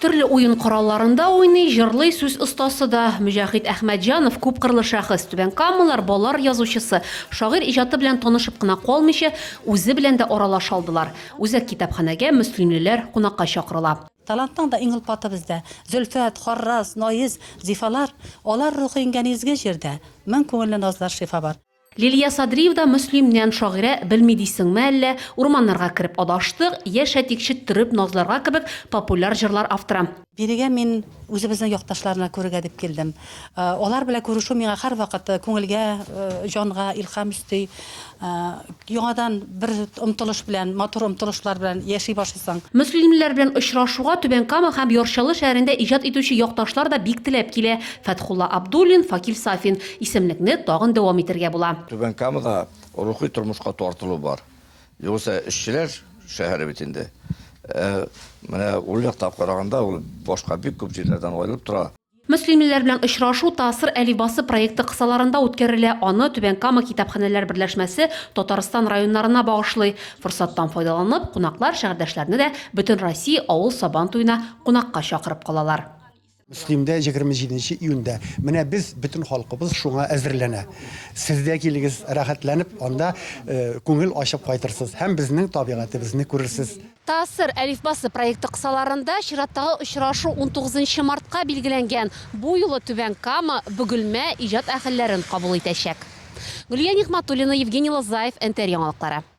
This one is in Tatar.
Төрле уен коралларында уйный, җырлый сүз остасы да. Мөҗәхит Әхмәтҗанов күпкырлы шәхес, Түбән Камалар балалар язучысы, шагыйрь иҗаты белән танышып кына калмыйча, үзе белән дә аралаша алдылар. Үзәк китапханәгә мөслимлеләр кунакка чакырыла. Талантның да иң олпаты бездә. Зөлфәт, Харраз, Наиз, Зифалар, Алар рухы иңгән изге җирдә, Мең күңелле назлар, шифа бар. Лилия Садриевда Мөслимнән, шагыйрә, белми дисеңме әллә, Урманнарга кереп адаштык, Яшә тик четтереп назларга кебек популяр җырлар авторы. Бирегә мин үзебезнең якташларны күрергә дип килдем. Алар белән күрешү миңа һәрвакыт күңелгә, җанга илһам өсти. Яңадан бер омтылыш белән, матур омтылышлар белән яши башлыйсың. Мөслимлеләр белән очрашуга Түбән Кама һәм Яр Чаллы шәһәрендә иҗат итүче якташлар да бик теләп килә, Фәтхулла Абдуллин, Факил Сафин. Исемлекне тагын дәвам итергә була. Түбән Камада рухи тормышка тартылу бар. Югыйсә эшчеләр шәһәре бит инде. Ә менә ул яктан караганда, ул башка бик күп җирләрдән аерылып тора. Мөслимлеләр белән очрашу Тасыр әлифбасы проекты кысаларында үткәрелә, аны Түбән Кама китапханәләр берләшмәсе Татарстан районнарына багышлый. Форсаттан файдаланып, кунаклар шәһәрдәшләрне дә Бөтенроссия авыл Сабан туена кунакка чакырып калалар. Мөслимдә 27 нче июньдә. Менә без, бөтен халкыбыз шуңа әзерләнә. Сез дә килегез, рәхәтләнеп анда күңел ачып кайтырсыз һәм безнең табигатебезне күрерсез. Таассыр әлифбасы проекты кысаларында чираттагы очрашу унтугызынчы мартка билгеләнгән. Бу юлы Түбән Кама, Бөгелмә иҗат әһелләрен кабул итәчәк. Гөлия Нигъмәтуллина, Евгений Лозаев, НТР яңалыклары.